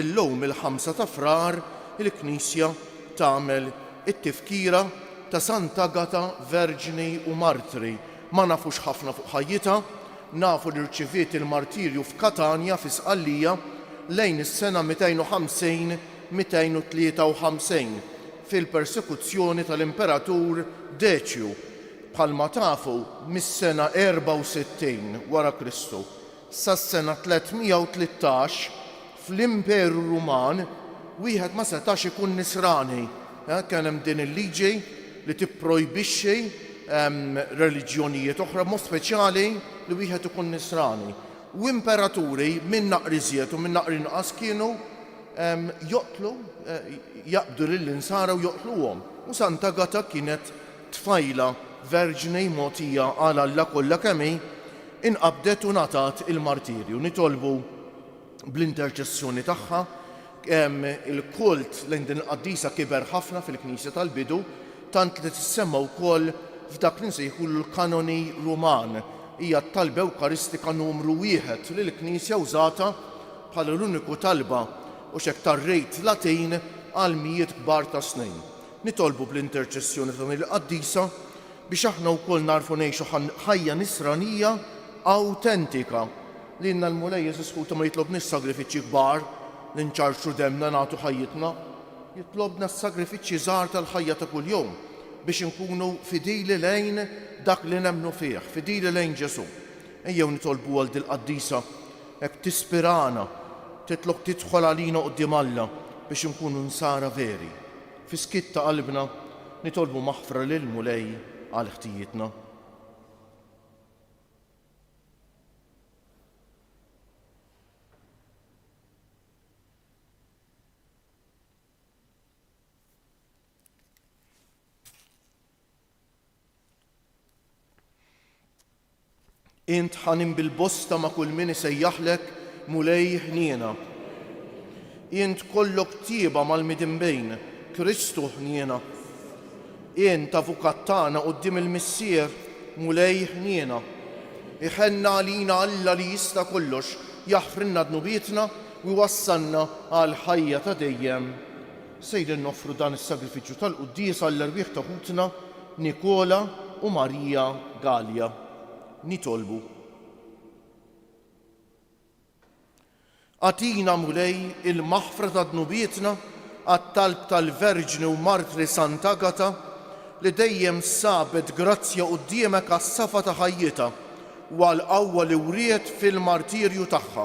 Illum il-Ħamsa ta' Frar il-Knisja tagħmel it-Tifkira ta' Sant'Agata Verġni u Martri. Ma nafux ħafna fuq ħajjitha. Nafu li rċiviet il-martirju f'Katanja fi Sqallija lejn is-sena 250, 253 fil-persekuzzjoni tal-Imperatur Deċju, bħalma tafu mis-sena 64 wara Kristu. Sas-sena 313, fl-Imperu Ruman, wieħed ma setax ikun Nisrani. Kien hemm din il-liġi li tipprojbixxi reliġjonijiet oħra, b'mod speċjali li wieħed ikun Nisrani. U imperaturi, min naqra iżjed u min naqra inqas, kienu joqtlu, jaqbdu lill-Insara u joqtluhom. U Sant'Agata kienet Tfajla verġni mogħtija għal Alla kollha kemm hi, inqabdet u ngħatat il-martirju. Nitolbu bl-interċessjoni tagħha, il-kult lejn din il-qaddisa kiber ħafna fil-Knisja tal-bidu, tant li tissemma wkoll f'dak li nsejħulu l-Kanoni Ruman. Hija t-talba ewkaristika numru wieħed li l-Knisja wżatha bħala l-uniku talba u x'hekk tar-Rit Latin għal mijiet kbar ta' snin. Nitolbu bl-interċessjoni ta' din il-qaddisa biex aħna wkoll nagħrfu ngħixu ħajja nisranija awtentika. Lilna l-Mulej Ġesù Sputa ma jitlobniex sagrifiċċji kbar, li nċarrċru demmna, nagħtu ħajjitna. Jitlobna s-sagrifiċċji żgħar tal-ħajja ta' kuljum biex inkunu fidili lejn dak li nemmnu fih, fidili lejn Ġesù. Ejjew nitolbu għal dil-qaddisa Hekk tispirana, titlok tidħol għalina quddiem Alla biex inkunu Nsara veri. Fis-skiet ta' qalbna, nitolbu maħfra lill-Mulej għal ħtijietna. Int ħanin bil-bosta ma' kull min isejjaħlek Mulej ħniena. Int kollok tjieba mal-midinbin, Kristu ħniena. Int Avukat tagħna quddiem il-Missier, Mulej ħniena. Iħenna għalina Alla li jista' kollox, jaħfrilna dnubietna u jwassalna għall-ħajja ta' dejjem. Sejrin noffru dan is-sagrifiċċju tal-quddies għall-erwieħ ta' ħutna Nikola u Maria Galea. Nitolbu. Agħtina, Mulej, il-maħfra ta' dnubietna għat-talb tal-Verġni u Martri Sant'Agata, li dejjem sabet grazzja quddiemek għas-safa ta' ħajjitha u għall-qawwa li wriet fil-martirju tagħha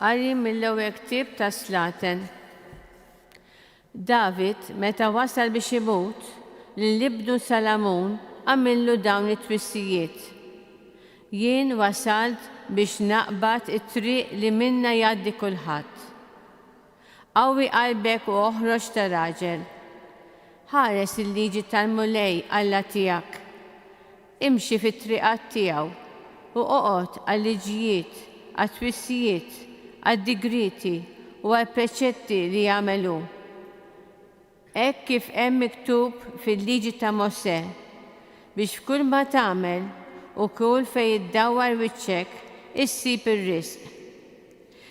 Qari mill-ewwel ktieb ta' Slaten. David, meta wasal biex imut, lil ibnu Salamun għamillu dawn it-twissijiet, Jien wasalt biex naqbad it-triq li minnha jgħaddi kulħadd. Qawwi qalbek u oħroġ ta' raġel. Ħares il-liġi tal-Mulej Alla tiegħek. Imxi fit-triqat tiegħu u oqgħod għal-liġijiet, għat-twissijiet, għad-digrieti u għall-preċetti li jagħmel hu. Hekk kif hemm miktub fil-Liġi ta' Mosè, biex f'kull ma tagħmel u kull fejn iddawwar wiċċek issib ir-riżq.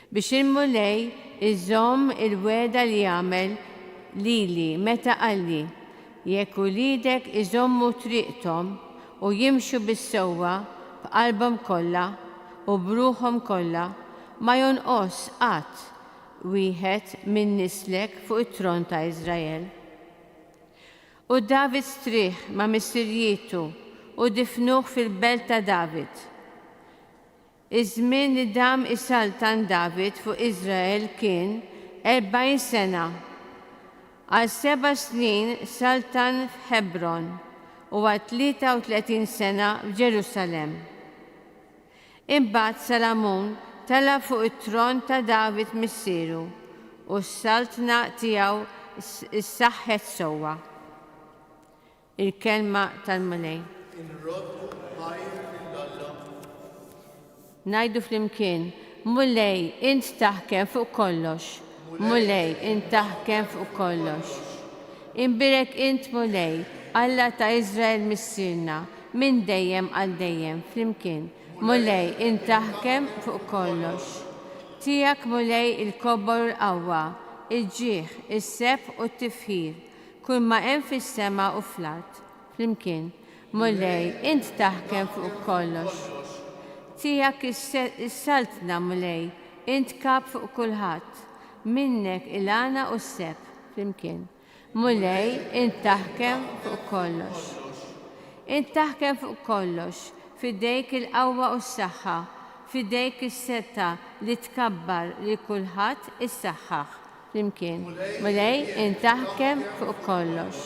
Biex il-Mulej iżomm il-wegħda li għamel lili meta qalli, 'Jekk uliedek iżommu triqthom u jimxu bis-sewwa b'qalbhom kollha u b'ruħhom kollha, ma jonqos qatt wieħed minn nislek fuq it-tron ta' Iżrael. U David strieħ ma' missirjietu u difnuh fil-belt ta' David. Iż-żmien li dam is-saltan David fuq Iżrael kien erbgħin sena. Għal seba' snin saltan f'Ħebron u għal tlieta u tletin sena f'Ġerusalemm. Imbagħad Salamun tela' fuq it-tron ta' David missieru, u s-saltna tiegħu ssaħħet sewwa. Il-kelma tal-Mulej. Inroddu ħajr lil Alla. Ngħidu flimkien, Mulej, int taħkem fuq kollox. Mulej, int taħkem fuq kollox. Inbierek int, Mulej, Alla ta' Iżrael Missierna, Minn dejjem għal dejjem flimkien, Mulej, int taħkem fuq kollox. Tiegħek, Mulej, il-kobbor u l-qawwa, il-ġieħ, is-sebħ u t-tifħir, kull ma hemm fis-sema u fl-art. Flimkien, Mulej, int taħkem fuq kollox. Tiegħek is-saltna, Mulej, int kap fuq kulħadd. Minnek il-għana u s-sebħ. Flimkien. Mulej, int taħkem fuq kollox. Int taħkem fuq kollox, f'idejk il-qawwa u s-saħħa, f'idejk is-setgħa li tkabbar lil kulħadd issaħħaħ. Flimkien, Mulej, int taħkem fuq kollox.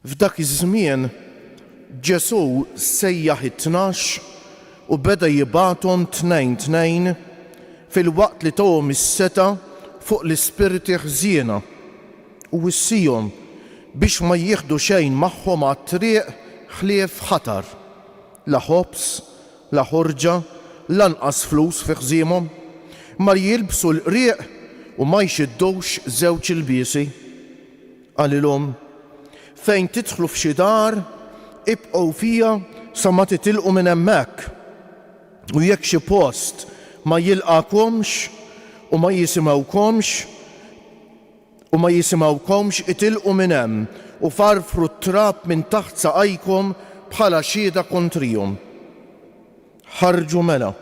F'dak iż-żmien, Ġesù sejjaħ it-tnax u beda jibgħathom tnejn tnejn filwaqt li tahom is-setgħa fuq l-ispirti ħżiena u wissiehom biex ma jieħdu xejn magħhom għat-triq ħlief ħatar, la ħobż, la ħorġa, lanqas flus fi ħżiemhom, ma jilbsu l-qrieq u ma jxiddux żewġ ilbiesi. Qalilhom, Fejn tidħlu f'xi dar, ibqgħu fiha sa ma titilqu minn hemmhekk. U jekk xi post ma jilqagħkomx u ma jisimgħukomx, u ma jisimgħukomx, itilqu minn hemm u farfru t-trab minn taħt saqajkom bħala xhieda kontrihom. Ħarġu mela,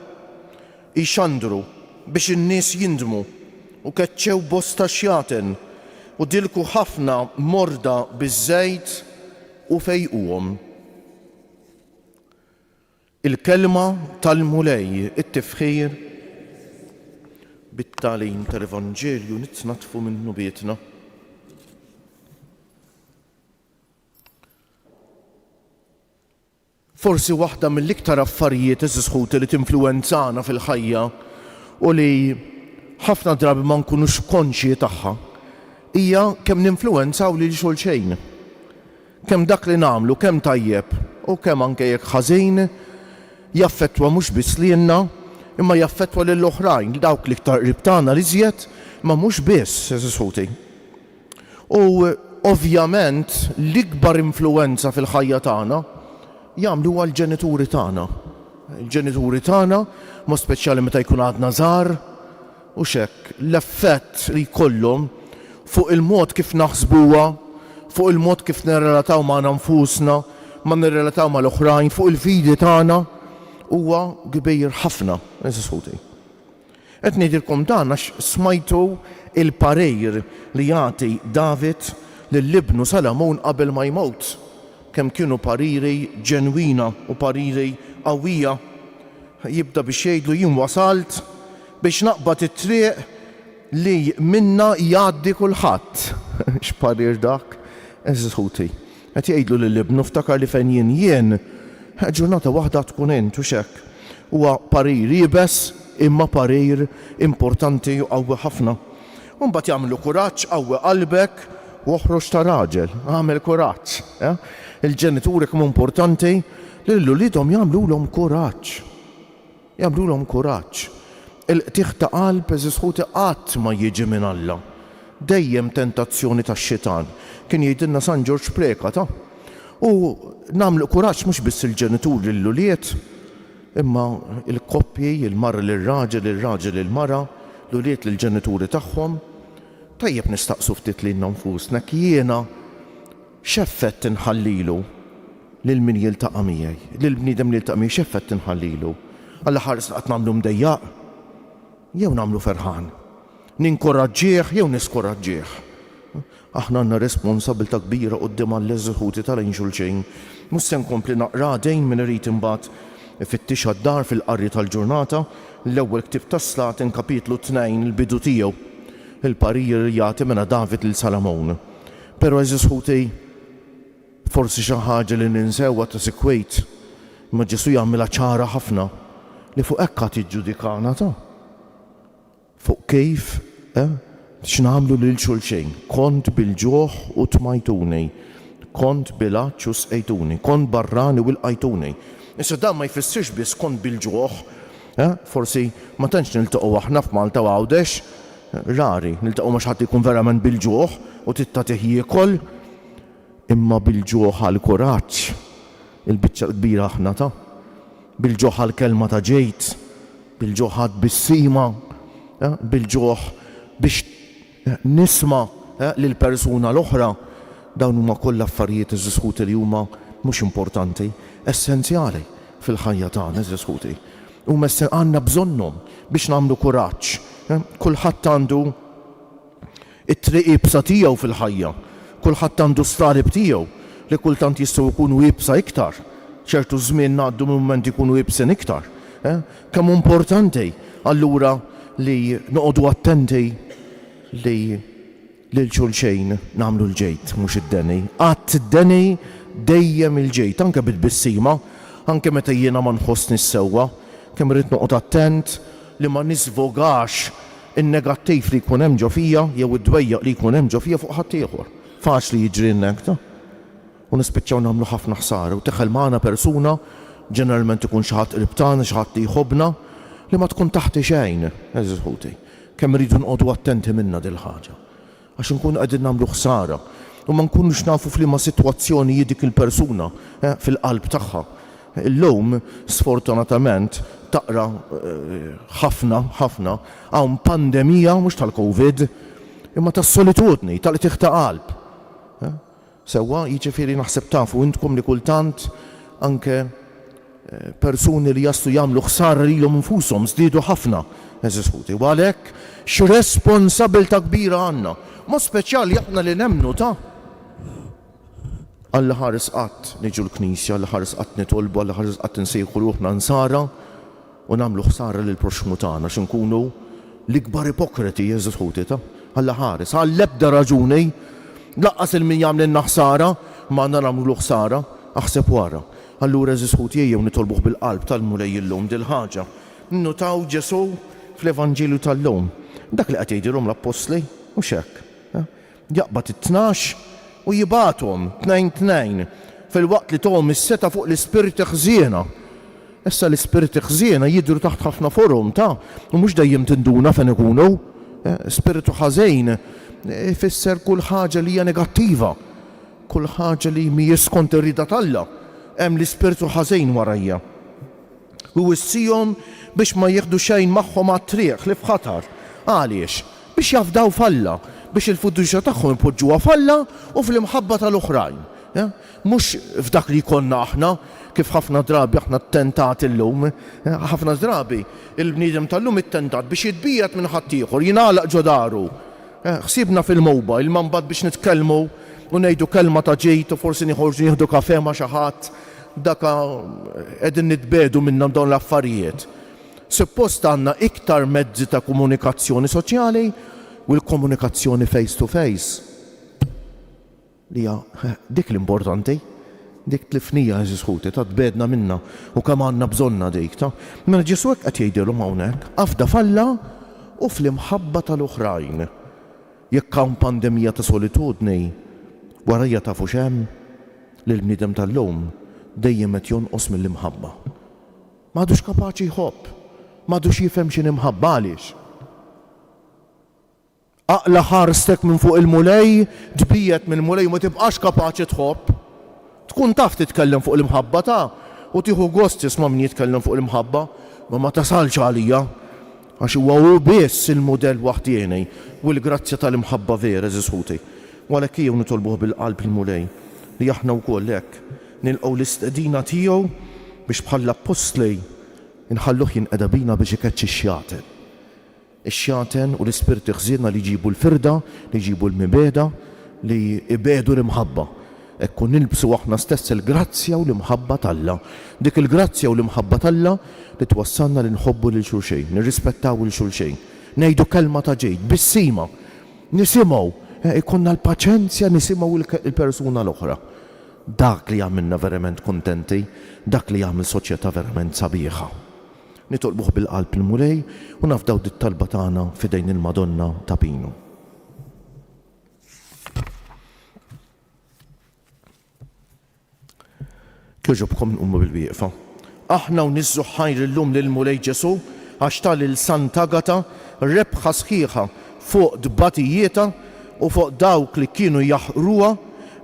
jxandru biex in-nies jindmu, u keċċew bosta xjaten, u dilku ħafna morda biż-żejt, u fejquhom. Il-Kelma tal-Mulej It-tifħir bit-tagħlim tal-Evanġelju nitnaddfu minn dnubietna. Forsi waħda mill-iktar affarijiet, għeżież ħuti, li tinfluwenzana fil-ħajja u li ħafna drabi ma nkunux konxji tagħha hija kemm ninfluwenzaw lil xulxejn. Kemm dak li nagħmlu, kemm tajjeb u kemm anke jekk ħażin, jaffettwa mhux biss lilna, imma jaffettwa lill-oħrajn, dawk l-iktar qrib tagħna l-iżjed, imma mhux biss, għeżież ħuti. U ovvjament l-ikbar influwenza fil-ħajja tagħna jagħmluha l-ġenituri tagħna. Il-ġenituri tagħna, b'mod speċjali meta jkun għadna żgħar, hux hekk, l-effett li jkollhom fuq il-mod kif naħsbuha, fuq il-mod kif nirrelataw magħna nfusna, ma nirrelataw mal-oħrajn, fuq il-fidi tagħna, huwa kbir ħafna. Qed ngħidilkom dan għax smajtu l-parir li jagħti David lil ibnu Salamun qabel ma jmut, kemm kienu pariri ġenwina u pariri qawwija. Jibda biex jgħidlu jien wasalt biex naqbad it-triq li minnha jgħaddi kulħadd. X'parir dak, għeżież ħuti! Qed jgħidlu lil ibnu, Ftakar li fejn jien jien, ġurnata waħda tkun int, hux hekk? Huwa parir iebes imma parir importanti u qawwi ħafna. U mbagħad jagħmlu kuraġġ, qawwi qalbek u oħroġ ta' raġel. Agħmel kuraġġ. Il-ġenituri kemm hu importanti li lil uliedhom jagħmlulhom kuraġġ. Jagħmlulhom kuraġġ. Il-qtigħ ta' qalb, għeżież ħuti, qatt ma jiġi minn Alla. Dejjem tentazzjoni tax-xitan. Kien jgħidilna San Ġorġ Precat, ah! U nagħmlu kuraġġ mhux biss il-ġenitur lill-ulied, imma l-koppji, il-mara lir-raġel, ir-raġel lill-mara, l-ulied lill-ġenituri tagħhom. Tajjeb nistaqsu ftit lilna nfusna jekk jiena, X'effett inħallilu lil min jiltaqa' miegħi? Lil bniedem li jiltaqa' miegħi x'effett inħallilu? Alla ħares li qatt nagħmlu mdejjaq jew nagħmlu ferħan? Ninkuraġġih jew niskuraġġih? Aħna għandna responsabbiltà kbira quddiem Alla ż-żħuti ta' lejn xulxin. Mhux se nkompli naqra dejn min irid imbagħad ifittixha d-dar fil-qari tal-ġurnata, l-ewwel ktieb tas-Slaten kapitlu tnejn il-bidu tiegħu. Il-parir li jagħti mena David lil Salamun. Pero għeżież ħuti, forsi xi ħaġa li ninsewha ta' sikwit, imma Ġesù jagħmilha ċara ħafna li fuq hekk għad jiġġudikana ta'. Fuq kif, eh, x'nagħmlu lil xulxejn. Kont bil-ġuħ u tmajtuni, kont bil-għatx u sqejtuni, kont barrani u lqajtuni. Issa dan ma jfissirx biss kont bil-ġuħ, eh, forsi ma tantx niltaqgħu aħna f'Malta u Għawdex, Rari niltaqgħu ma' xi ħadd li jkun verament bil-ġuħ u trid tagħtih jiekol, imma bil-ġuħ għall-kuraġġ, il-biċċa l-kbira aħna ta'. Bil-ġuħ għall-kelma ta' ġejd, bil-ġuħ għat-tbissima, bil-ġuħ biex nisma' lill-persuna l-oħra, dawn huma kollha affarijiet, għeżież ħuti, li huma mhux importanti, essenzjali fil-ħajja tagħna, għeżież ħuti. Huma s-, għandna bżonnhom biex nagħmlu kuraġġ. Kulħadd għandu t-triq iebsa tiegħu fil-ħajja. Kulħadd għandu s-sarib tiegħu li kultant jistgħu jkunu iebsa iktar. Ċertu żmien ngħaddu minn mumenti jkunu iebsin iktar. Kemm hu importanti allura li noqogħdu attenti li Lil xulxejn nagħmlu l-ġid, mhux id-deni. Qatt id-deni, dejjem il-ġid, anke bi tbissima, anke meta jiena ma nħossnix sewwa. Kemm irrid noqgħod attent li ma nisvogax in-negattiv li jkun hemm ġo fija jew id-dwejjaq li jkun hemm ġo fija fuq ħaddieħor. Faċli jiġri n-negta. u nispiċċaw nagħmlu ħafna ħsara u tidħel magħna persuna, ġeneralment ikun xi ħadd qrib tagħna, xi ħadd li jħobbna, li ma tkun taħti xejn, għeżież ħuti. Kemm irridu nqogħdu attenti minnha dil-ħaġa. Għax inkunu qegħdin nagħmlu ħsara u ma nkunux nafu f'liema sitwazzjoni hi dik il-persuna, eh, fil-qalb tagħha. Illum, sfortunatament, taqra ħafna, ħafna, hawn pandemija mhux tal-Covid, imma tas-solitudni, tal-qtigħ ta' qalb. Eh? Sewwa, jiġifieri naħseb tafu intkom li kultant anke persuni li jaslu jagħmlu ħsara lilhom infushom żdiedu ħafna, għeżież ħuti. U għalhekk x'responsabbiltà kbira għandna, b'mod speċjali aħna li nemmnu ta' għall-aħħar sqatt niġu l-Knisja, għall-aħħar sqatt nitolbu, għall-aħħar sqatt insejħu ruħna Nsara, u nagħmlu ħsara lill-proxxmu tagħna xi nkunu l-ikbar ipokreti Jeżus ħu tita. Alla ħares, għall-ebda raġuni, lanqas il-min jagħmlilna ħsara, ma għandna nagħmlulu ħsara, aħseb u ara. Allura għeżież ħu tiegħi jew nitolbuh bil-qalb tal-Mulej illum dil-ħaġa. Nnutaw Ġesù fl-Evanġelju tal-lum, dak li qed jgħidilhom l-appostli, mhux hekk? Jaqbad it-tnax u jibgħathom, tnejn tnejn, filwaqt li tohom is-setgħa fuq l-ispirti ħżiena. Issa l-ispirti ħżiena jidhru taħt ħafna forom ta' u mhux dejjem tinduna fejn ikunu. Spirtu ħażin ifisser kull ħaġa li hija negattiva, kull ħaġa li mhijiex skont ir-rieda t'Alla. Hemm l-ispirtu ħażin warajja. Iwissihom biex ma jieħdu xejn magħhom għat-triq ħlief ħatar. Għaliex? Biex jafdaw f'Alla, biex il-fiduċja tagħhom ipoġġuha f'Alla u fl-imħabba tal-oħrajn, mhux f'dak li jkollna aħna, kif ħafna drabi aħna ttentati llum. Ħafna drabi, il-bniedem tal-lum ittentat biex jitbiegħed minn ħaddieħor, jingħalaq ġo daru, ħsiebna fil-mowbajl, imma mbagħad biex nitkellmu u ngħidu kelma ta' ġid u forsi noħorġu nieħdu kafè ma' xi ħadd, Dak qegħdin nitbiegħdu minnhom dawn l-affarijiet. Suppost għandna iktar mezzi ta' komunikazzjoni soċjali u l-komunikazzjoni face to face li hija dik l-importanti. Dik tlifnija, għeżież ħuti, ta' tbiegħdna minnha u kemm għandna bżonnha dik, ta'. Mela Ġesù hekk qed jgħidilhom hawnhekk, afda f'Alla u fl-imħabba tal-oħrajn. Jekk hawn pandemija ta' solitudni, warajja tafu x'hemm? L-bniedem tal-lum dejjem qed jonqos mill-imħabba. Ma għadux kapaċi jħobb. Ma għadux jifhem x'inhi mħabba. Għaliex? Aqla' ħarstek minn fuq il-Mulej, tbiegħed mill-Mulej u ma tibqax kapaċi tħobb. Tkun taf titkellem fuq l-imħabba ta' u tieħu gost tisma' min jitkellem fuq l-imħabba, ma ma tasalx għalija, għax huwa hu biss il-mudell waħdieni u l-grazzja tal-imħabba vera, għeżież ħuti. U għalhekk ejjew nitolbuh bil-qalb il-Mulej li aħna wkoll hekk nilqgħu l-istedina tiegħu biex bħall-appostli nħalluh jinqeda bina biex ikeċċi x-xjaten. ix-xjaten u l-ispirti ħżiena li jġibu l-firda, li jġibu l-mibegħda, li jbiegħdu l-imħabba. Hekk hu nilbsu aħna stess il-grazzja u l-imħabba t'Alla. Dik il-grazzja u l-imħabba t'Alla li twassalna li nħobbu lil xulxejn, nirrispettaw 'il xulxejn, ngħidu kelma ta' ġid, tbissima, nisimgħu, ikollna l-paċenzja nisimgħu l-persuna l-oħra. Dak li jagħmilna verament kuntenti, dak li jagħmel soċjetà verament sabiħa. Nitolbuh bil-qalb il-Mulej u nafdaw dit-talba tagħna f'idejn il-Madonna ta' Pinu. Kjoġobkom nqumu bil-wieqfa. Aħna u niżżu ħajr illum lill-Mulej Ġesu għax ta lil Sant'Agata rebħa sħiħa fuq tbatijietha u fuq dawk li kienu jaħqruha,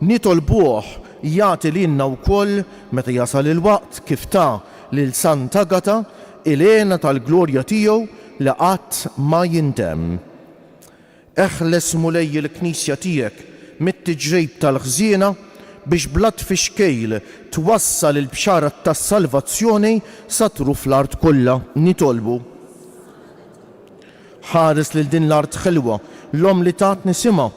nitolbuh jagħti lilna wkoll, meta jasal il-waqt, kif ta Lil Sant'Agata, Ilena tal-glorja tiegħu li qatt ma jintemm. Eħles, Mulej, il-Knisja tiegħek mit-tiġrejb tal-ħżiena biex bla tfixkejl twassal il-bxara tas-salvazzjoni sa truf l-art kollha. Nitolbu. Ħares lil din l-art ħelwa, l-Omm li tatni simha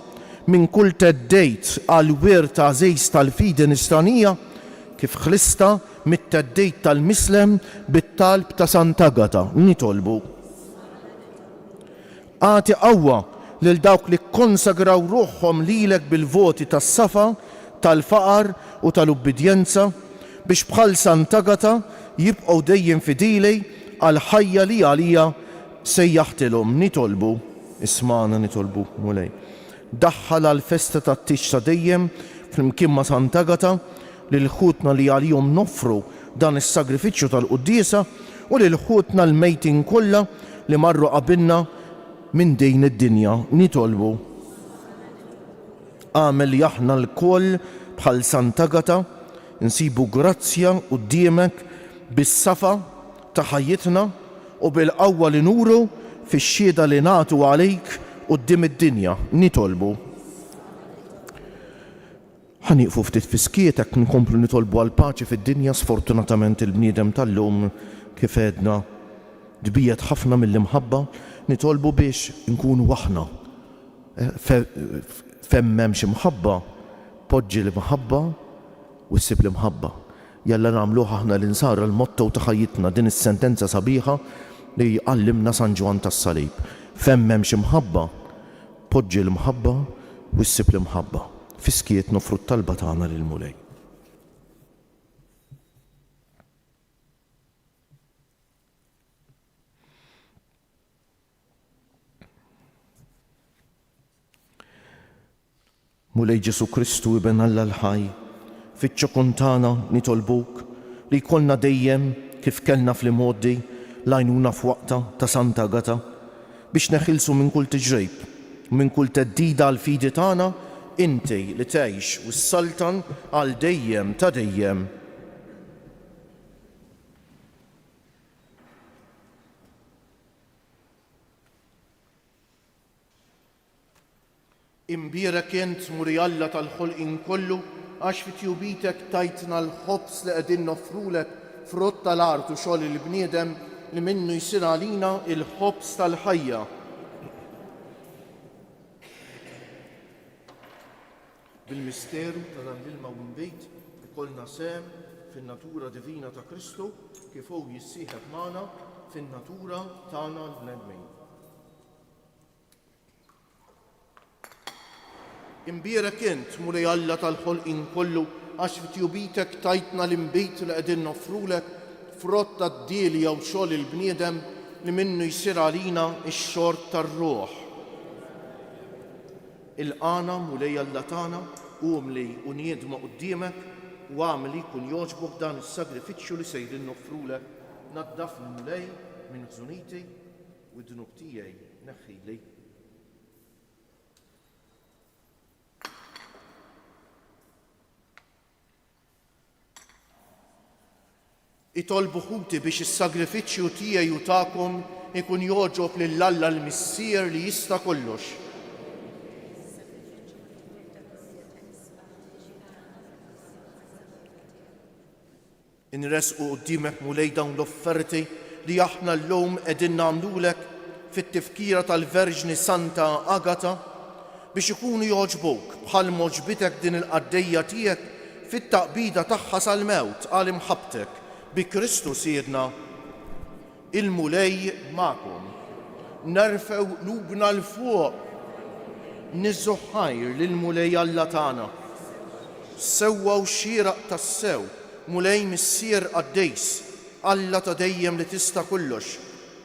minn kull theddid għall-wirt għażiż tal-fidi nisranija, kif ħlistha mit-theddid tal-Mislem bit-talb ta' Sant'Agata, nitolbu, Agħti qawwa lil dawk li kkonsagraw ruħhom lilek bil-voti tas-safa, tal-faqar u tal-ubbidjenza, biex bħal Sant'Agata jibqgħu dejjem fidili għall-ħajja li għaliha sejjaħtilhom, nitolbu, ismagħna, nitolbuk, Mulej. Daħħal għall-festa tat-tieġ ta' dejjem flimkien ma' Sant'Agata lil ħutna li għalihom noffru dan is-sagrifiċċju tal-quddiesa u lil ħutna l-mejtin kollha li marru qabilna minn din id-dinja. Nitolbu, agħmel li aħna lkoll bħal Sant'Agata nsibu grazzja quddiemek bis-safa ta' ħajjitna u bil-qawwa li nuru fix-xhieda li nagħtu għalik quddiem id-dinja, nitolbu. Ħa nieqfu ftit fis-skiet hekk nkomplu nitolbu għall-paċi fid-dinja sfortunatament il-bniedem tal-lum kif għedna tbiegħed ħafna mill-imħabba, nitolbu biex inkunu aħna fejn m'hemmx imħabba poġġi l-imħabba u ssib l-imħabba. Jalla nagħmluh aħna l-Insara l-motto ta' ħajjitna, din is-sentenza sabiħa li għallimna San Ġwann tas-Salib, F'hemm m'hemmx imħabba, poġġi l-mħabba u ssib l-imħabba. Fis-skiet noffru t-talba tagħna lill-Mulej. Mulej Ġesu Kristu Iben Alla l-ħaj, fiċ-ċokon tagħna nitolbuk li jkollna dejjem, kif kellna fl-imgħoddi, l-għajnuna f'waqtha ta' Santa Agata, biex neħilsu minn kull tiġrejb u minn kull theddida għall-fidi tagħna, inti li tgħix u ssaltan għal dejjem ta' dejjem. Imbierek int, Muri Alla tal-ħolqien kollu, għax fi tjubitek tajtna l-ħobż li qegħdin noffrulek, frott tal-art u xogħol il-bniedem, li minnu jsir għalina l-ħobż tal-ħajja. Bil-misteru ta' dan l-ilma u l-inbid ikollna sehem fin-natura divina ta' Kristu kif hu jissieħeb magħna fin-natura tagħna l-bnedmin. Imbierek int, Mulej Alla tal-ħolqien kollu, għax f'tjubitek tajtna l-inbid li qegħdin noffrulek, frott tad-dil jew xogħol il-bniedem li minnu jsir għalina x-xorb tar-ruħ. Ilqagħna, Mulej Alla tagħna, umli u niedma quddiemek, u agħmel li jkun jogħġbok dan is-sagrifiċċju li sejrin noffrulek. Naddafni, Mulej, minn ħżuniti, u d-dnub tiegħi neħħili. Itolbu ħuti biex is-sagrifiċċju tiegħi u tagħkom ikun jogħġob lil Alla l-Missier li jista' kollox. Inresqu quddiemek Mulej dawn l-offerti li aħna llum qegħdin nagħmlulek fit-tifkira tal-Verġni Santa Agata biex ikunu jogħġbuk bħal m'għoġbitek din il-qaddejja tiegħek fit-taqbida tagħha sal-mewt għal imħabbtek bi Kristu Sidna. Il-Mulej magħkom. Nerfgħu qlubna 'l fuq niżżu ħajr lill-Mulej Alla tagħna. Sewwa u xieraq tassew, Mulej Missier Qaddejs, Alla ta' dejjem li tista' kollox,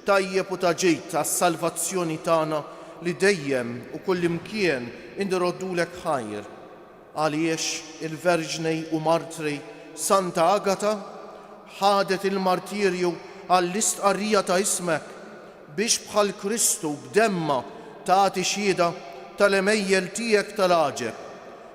Tajjeb u ta' ġid għas-salvazzjoni tagħna li dejjem u kullimkien inroddulek ħajr. Għaliex il-Verġni u Martri Santa Agata ħadet il-martirju għall-istqarrija ta' ismek, biex bħal Kristu b'demmha tagħti xhieda tal-għemejjel tiegħek tal-għaġeb,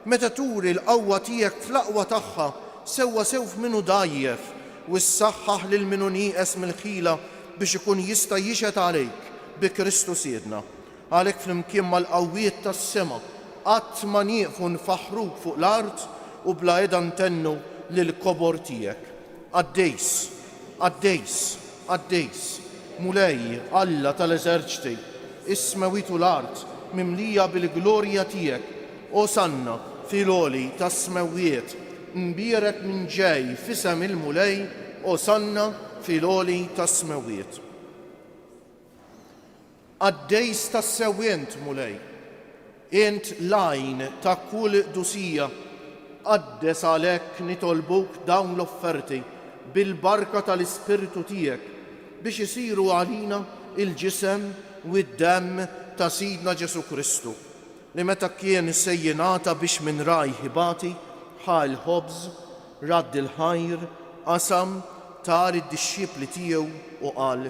Meta turi l-qawwa tiegħek fl-aqwa tagħha, sewwa sew f'min hu dgħajjef, u ssaħħaħ lil min hu nieqes mill-ħila biex ikun jista' jixhed għalejk, bi Kristu Sidna. Għalhekk flimkien mal-qawwiet tas-sema qatt ma nieqfu nfaħħruk fuq l-art u bla heda ntennu lill-kobor tiegħek. Qaddis, qaddis, qaddis, Mulej, Alla ta' l-eżerċti, is-smewwiet u l-art mimlija bil-glorja tiegħek, Osanna fi l-għoli tas-smewwiet, mbierek min ġej f'isem il-Mulej, Osanna fi l-għoli tas-smewwiet. Qaddejs tassew int, Mulej. Int l-għajn ta' kull qdusija. Qaddes għalhekk nitolbuk dawn l-offerti bil-barka tal-Ispirtu tiegħek biex isiru għalina l-ġisem u d-demm ta' Sidna Ġesù Kristu, li meta kien se jingħata biex minn rajh ibati, ħa l-ħobż, radd il-ħajr, qasam, tar id-dixxipli tiegħu u qal,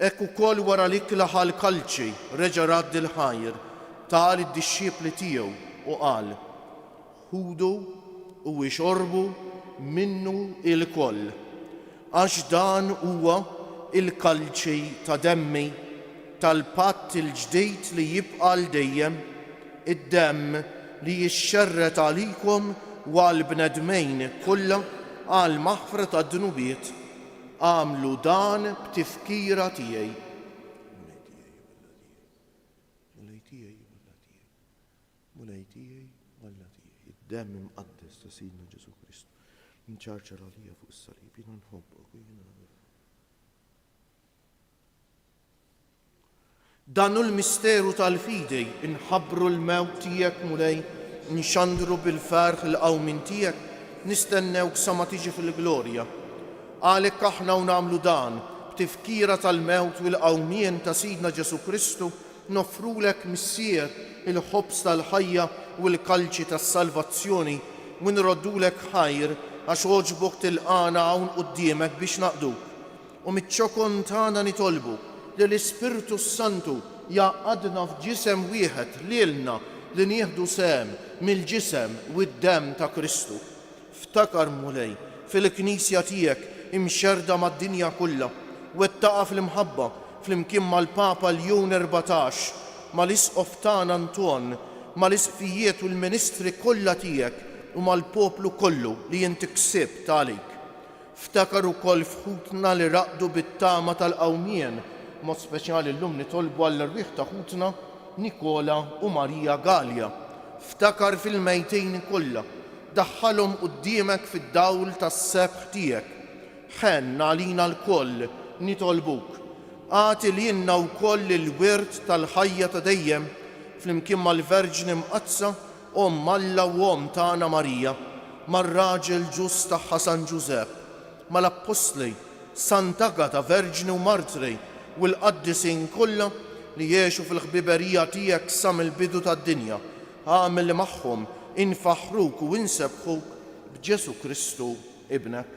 Hekk ukoll wara l-ikla ħa l-kalċi, reġa' radd il-ħajr, ta lid-dixxipli tiegħu u qal, Ħudu u ixorbu minnu ilkoll, għax dan huwa l-kalċi ta' demmi tal-patt il-ġdid li jibqa' għal dejjem, id-demm li jixxerred għalikom u għall-bnedmin kollha għall-maħfra tad-dnubiet. Agħmlu dan b'tifkira tiegħi. Mulej tiegħi u Alla tiegħi. Mulej tiegħi u Alla tiegħi. Id-demm imqaddes ta' Sidna Ġesù Kristu nċarċar għalija fuq is-salib. Jiena nħobbok u jiena Dan hu l-misteru tal-fidi, inħabbru l-mewt tiegħek, Mulej, nxandru bil-ferħ il-qawmien tiegħek, nistennewk sa ma tiġi fil-glorja. Għalhekk aħna u nagħmlu dan, b'tifkira tal-mewt u l-qawmien ta' Sidna Ġesù Kristu, noffrulek, Missier, il-ħobż tal-ħajja u l-kalċi tas-salvazzjoni u nroddulek ħajr għax għoġbok tilqagħna hawn quddiemek biex naqduk. U miċ-ċokon tagħna nitolbu li l-Ispirtu s-Santu jgħaqqadna f'ġisem wieħed lilna li nieħdu sehem mill-ġisem u d-demm ta' Kristu. Ftakar, Mulej, fil-Knisja tiegħek imxerrda mad-dinja kollha, wettaqha fl-imħabba flimkien mal-Papa Ljon Erbatax, mal-Isqof tagħna Anton, mal-Isqfijiet u l-ministri kollha tiegħek u mal-poplu kollu li int ksibt għalik. Ftakar ukoll f'ħutna li raqdu bit-tama tal-qawmien, b'mod speċjali llum nitolbu għall-erwieħ ta' ħutna Nikola u Maria Galea. Ftakar fil-mejtin kollha. Daħħalhom quddiemek fid-dawl tas-sebħ tiegħek. Ħenn għalina lkoll, nitolbuk. Agħti lilna wkoll il-wirt tal-ħajja ta' dejjem, flimkien mal-Verġni Mqaddsa Omm Alla u Omm tagħna Marija, mar-raġel ġust tagħha San Ġużepp, mal-appostli, Sant'Agata verġni u martri u l-qaddisin kollha li għexu fil-ħbiberija tiegħek sa mill-bidu tad-dinja, agħmel li magħhom infaħħruk u insebbħuk b'Ġesù Kristu Ibnek.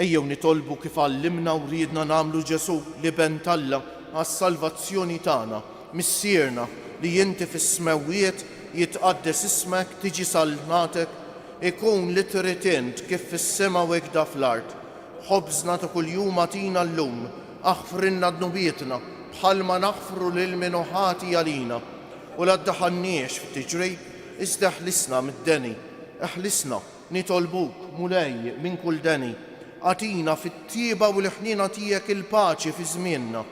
Ejjew nitolbu kif għallimna u riedna nagħmlu Ġesù, l-Iben t'Alla, għas-salvazzjoni tagħna, Missierna, li inti fis-smewwiet, jitqaddes ismek, tiġi saltnatek, ikun li trid int kif fis-sema u hekk da fl-art. Ħobżna ta' kuljum agħtina llum. Aħfrilna dnubietna, bħalma naħfru lil min hu ħati għalina. U la ddaħħalniex f'tiġrij, iżda ħlisna mid-deni. Eħlisna, nitolbuk, Mulej, minn kull deni. Agħtina fit-tjieba u l-ħniena tiegħek il-paċi fi żmienna,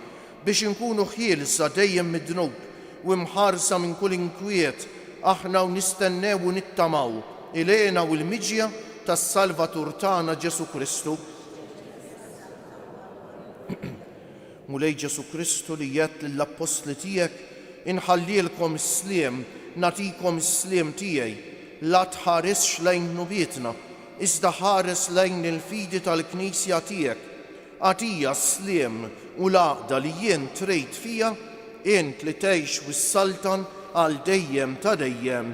biex inkunu ħielsa dejjem mid-dnub u mħarsa minn kull inkwiet aħna u nistennew u nittamaw il-hena u l-miġja tas-Salvatur tagħna Ġesù Kristu. Mulej Ġesù Kristu li għedt lill-appostli tiegħek, Inħallielkom is-sliem, nagħtikom is-sliem tiegħi, la tħarisx lejn dnubietna, iżda ħares lejn il-fidi tal-Knisja tiegħek, agħtiha s-sliem u l-għaqda li int trid fiha, int li tgħix u ssaltan għal dejjem ta' dejjem.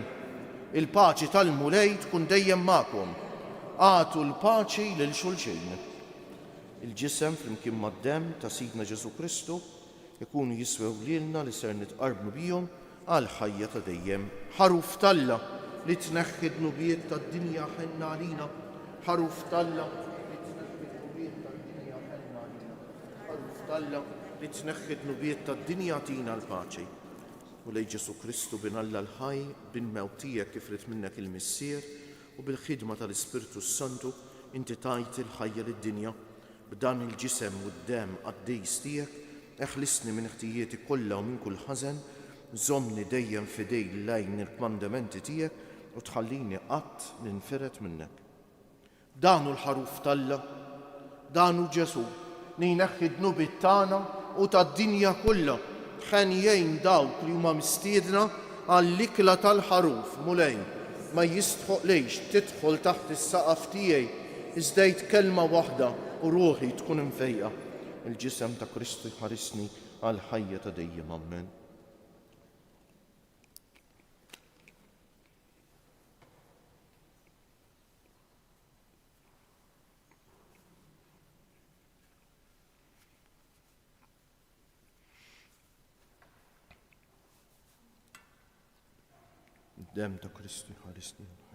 Il-paċi tal-Mulej tkun dejjem magħkom. Agħtu l-paċi lil xulxin. Il-Ġisem flimkien mad-Demm ta' Sidna Ġesù Kristu jkunu jiswew lilna li ser nitqarrbu bihom għall-ħajja ta' dejjem. Ħaruf t'Alla li tneħħi d-dnubiet tad-dinja ħenna għalina Ħaruf t'Alla li tneħħi d-dnubiet tad-dinja ħenna għalina Ħaruf t'Alla li tneħħi d-dnubiet tad-dinja agħtina l-paċi Mulej Ġesù Kristu Bin Alla l-ħaj, Bin mewt tiegħek kif ried minnek il-Missier, U bil-ħidma tal-Ispirtu s-Santu inti tajt il-ħajja lid-dinja, b'dan il-ġisem u d-demm qaddis tiegħek, eħlisni minn ħtijieti kollha u minn kull ħażen, żommni dejjem fidejl lejn il-kmandementi tiegħek u tħallini qatt ninfired minnek. Dan hu l-Ħaruf t'Alla! Dan hu Ġesù li jneħħi d-dnubiet tagħna u tad-dinja kollha. Ħen jgħin dawk li huma mistiedna għall-ikla tal-Ħaruf. Mulej, ma jistħoqlejx tidħol taħt is-saqaf tiegħi, iżda għid kelma waħda u ruħi tkun imfejqa. Il-Ġisem ta' Kristu jħarisni għall-ħajja ta' dejjem. Ammen. dem ta' Kristu ħarisni l-ħajja.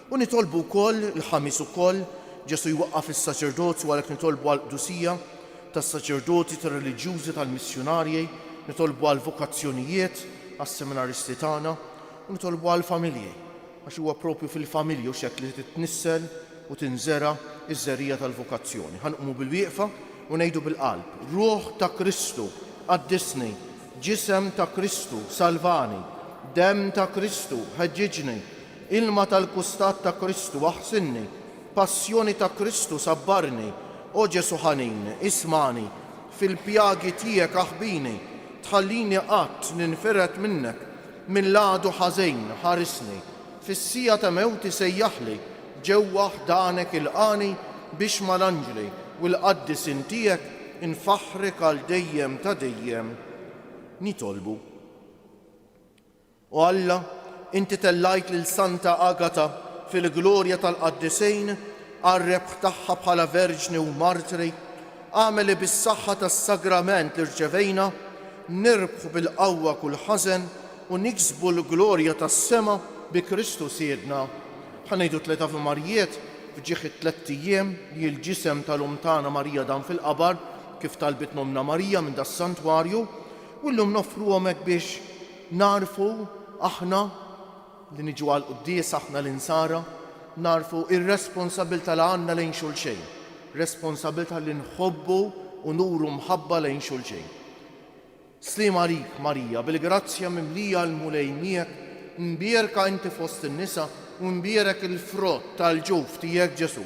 U nitolbu wkoll, il-Ħamis ukoll, Ġesù jwaqqaf is-saċerdozju, għalhekk nitolbu għall-qdusija tas-saċerdoti, tar-reliġjużi, tal-missjunarji, nitolbu għall-vokazzjonijiet, għas-seminaristi tagħna, u nitolbu għall-familji, għax huwa proprju fil-familji, hux hekk li titnissel u tinżera' ż-żerriegħa tal-vokazzjoni. Ħa nqumu bil-wieqfa u ngħidu bil-qalb, Ruħ ta' Kristu, qaddisni, Ġisem ta' Kristu, salvani, Demm ta' Kristu, ħeġġiġni, Ilma tal-kustat ta' Kristu aħsinni, Passjoni ta' Kristu sabbarni, O Ġesu' ħanin, ismagħni, Fil-pjagi tiegħek aħbini, Tħallini qatt ninfired minnek, Mill-għadu ħażin ħarisni, Fis-siegħa ta' mewti sejjaħli, Ġewwa ħdanek ilqagħni, Biex mal-anġli u l-qaddisin tiegħek, Infaħħrek għal dejjem ta' dejjem nitolbu. O Alla, Inti tellajt lil Santa Agata fil-glorja tal-Qaddisin għar-rebħ tagħha bħala verġni u martri, agħmel li bis-saħħa tas-Sagrament li rċevejna, nirbħu bil-qawwa kull ħażen u niksbu l-glorja tas-sema bi Kristu Sidna. Ħa ngħidu tliet Avimarjiet f'ġieħ it-tlett ijiem li l-ġisem tal-Omm tagħna Marija dam fil-qabar, kif talbitna Ommna Marija minn das-Santwarju. U llum noffruhom hekk biex nagħrfu aħna li niġu għall-quddiesa, aħna l-Insara, nagħrfu r-responsabbiltà li għandna lejn xulxejn, responsabbiltà li nħobbu u nuru mħabba lejn xulxejn. Sliem għalik, Marija, bil-grazzja mimlija l-Mulej miegħek, mbierka inti fost in-nisa u mbierek il-frott tal-ġuf tiegħek Ġesù.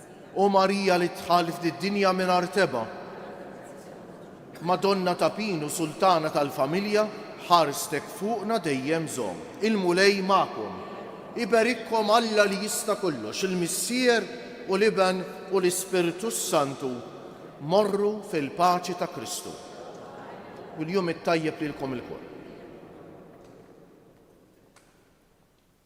O Marija li dħalt f'did-dinja mingħajr tebgħa, Madonna ta' Pin u Sultana tal-Familja, ħarstek fuqna dejjem żomm. Il-Mulej magħkom. Iberikkom Alla li jista' kollox, il-Missier u l-Iben u l-Ispirtu s-Santu. Morru fil-paċi ta' Kristu. U l-jum it-tajjeb lilkom ilkoll.